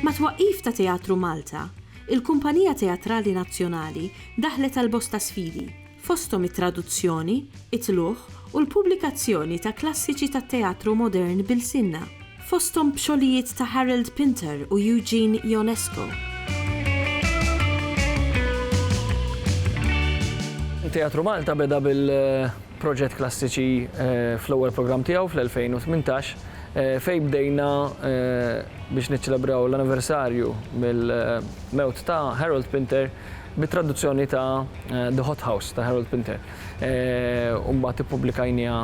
Mat-twaqqif ta' Teatru Malta, il-Kumpanija Teatrali Nazzjonali daħlet għal bosta sfidi. fosthom it-traduzzjoni, it-tlugħ u l-pubblikazzjoni ta' klassiċi tat-teatru modern b'ilsienna, fosthom b'xogħlijiet ta' Harold Pinter u Eugene Ionesco. Teatru Malta beda bil-proġett Klassiċi fl-ewwel programm tiegħu fl-2018 fejn bdejna biex niċċelebraw l-anniversarju mill-mewt ta' Harold Pinter bit-traduzzjoni ta' The Hot House ta' Harold Pinter u mbagħad ippubblikajniha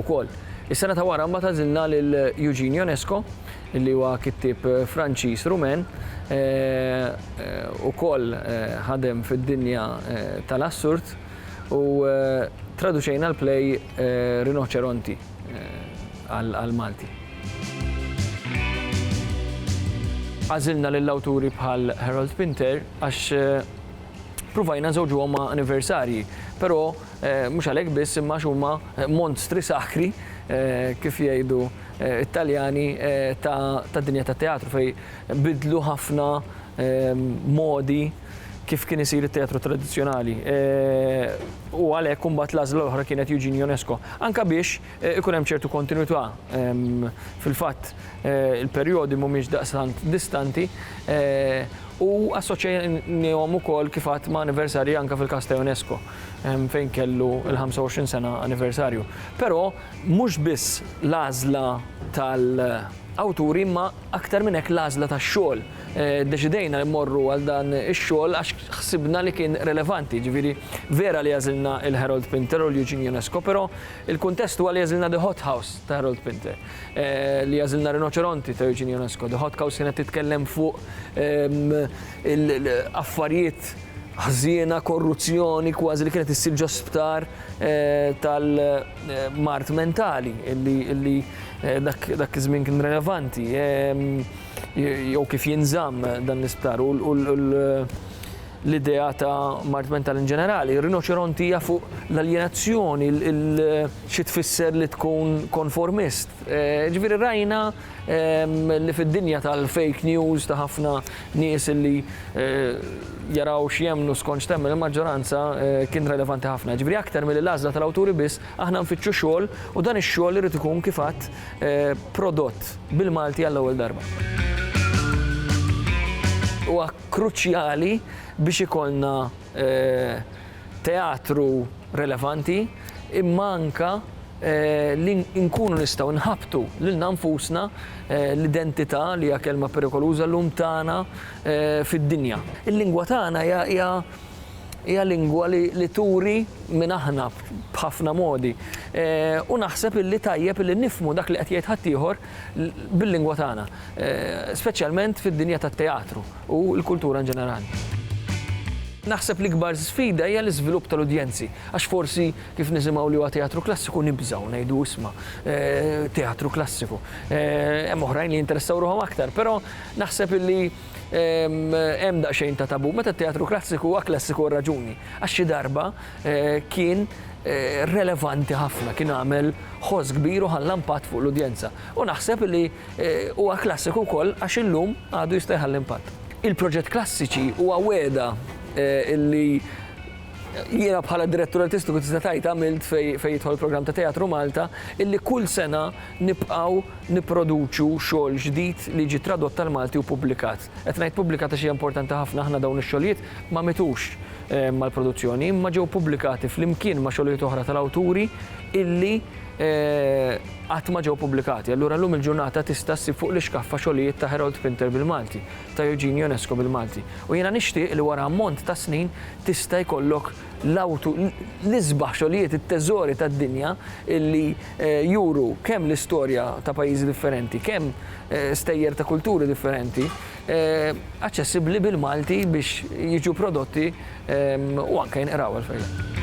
wkoll. Is-sena ta' wara mbagħad għażilna lil Eugene Ionesco li huwa kittieb Franċiż Rumen ukoll ħadem fid-dinja tal-assurd u traduċejna l-play Rinoċeronti. għal Malti. Għażilna lil awturi bħal Harold Pinter għax pruvajna nżewġuhom ma' anniversarji, però mhux għalhekk biss imma għax huma monstri sakri kif jgħidu t-Taljani ta' dinja tat-teatru fejn bidlu ħafna modi kif kien isir it-teatru tradizzjonali. U għalhekk imbagħad l-għażla l-oħra kienet Eugene Ionesco. Anka biex ikun hemm ċertu kontinwità. Fil-fatt il-perjodi mhumiex daqstant distanti u assoċjajnihom ukoll kif għadt ma' anniversarji anka fil-każ ta' Ionesco fejn kellu l-25 sena anniversarju. Però mhux biss l-għażla tal-awturi imma aktar minn hekk l-għażla tax-xogħol. Ddeċidejna li mmorru għal dan ix-xogħol għax ħsibna li kien relevanti. Ġifieri, vera li għażilna il-Harold Pinter u l-Eugene Ionesco, però il-kuntest huwa li għażilna The Hot House ta' Harold Pinter. Li għażilna Rinoċeronti ta' Eugene Ionesco. The Hot House kienet titkellem fuq affarijiet ħżiena, korruzzjoni kważi li kienet issir ġo sptar tal-mard mentali, li dak iż-żmien kien relevanti. jew kif jinżamm dan l-isptar u l-idea ta' mart mental in ġenerali. Rinoċeronti hija fuq l-aljenazzjoni, xi tfisser li tkun konformist. Eh, ġifieri rajna ehm, li fid-dinja tal-fake news ta' ħafna nies li eh, jaraw x'jemnu skont x'temmen il-maġġoranza eh, kien relevanti ħafna. Ġifieri aktar mill-għażla tal-awturi biss Aħna nfittxu xogħol u dan ix-xogħol irid ikun kif għadt prodott bil-Malti għall-ewwel darba. Huwa kruċjali biex ikollna teatru relevanti imma anke li nkunu nistgħu nħabbtu lilna nfusna l-identità li hija kelma perikoluża llum tagħna fid-dinja. Il-lingwa tagħna hija Hija lingwa li turi min aħna b'ħafna modi. U naħseb illi tajjeb illi nifhmu dak li qed jgħid ħaddieħor bil-lingwa tagħna, speċjalment fid-dinja tat-teatru u l-kultura in ġenerali. Naħseb l-ikbar sfida hija l-iżvilupp tal-udjenzi, għax forsi kif nisimgħu li huwa teatru klassiku nibżgħu ngħidu isma' teatru klassiku. Hemm oħrajn li jinteressaw ruħhom aktar, però naħseb illi Hemm daqsxejn ta' tabu meta t-teatru klassiku huwa klassiku għal raġuni, għax xi darba kien relevanti ħafna, kien għamel ħoss kbir u ħalla impatt fuq l-udjenza. U naħseb li huwa klassiku wkoll għax illum għadu jista' jħalli impatt. Il-proġett Klassiċi huwa wegħda li Jiena bħala direttur artistiku tista' tgħid għamilt fejn jidħol il-programm ta' Teatru Malta illi kull sena nibqgħu nipproduċu xogħol ġdid li jiġi tradott tal-Malti u ppubblikat. Qed ngħid ppubblikat għax hija importanti ħafna aħna dawn ix-xogħlijiet ma mitux mal-produzzjoni imma ġew ppubblikati flimkien ma' xogħlijiet oħra tal-awturi illi qatt ma ġew ppubblikati. Allura llum il-ġurnata tista' ssib fuq l-ixkaffa xogħlijiet ta' Harold Pinter bil-Malti, ta' Eugene Ionesco bil-Malti. U jiena nixtieq li wara ammont ta' snin tista' jkollok l-awtu, l-isbaħ xogħlijiet, it-teżori tad-dinja li juru kemm l-istorja ta' pajjiżi differenti, kemm stejjer ta' kulturi differenti, aċċessibbli bil-Malti biex jiġu prodotti u anke jinqraw għall-fejjaq.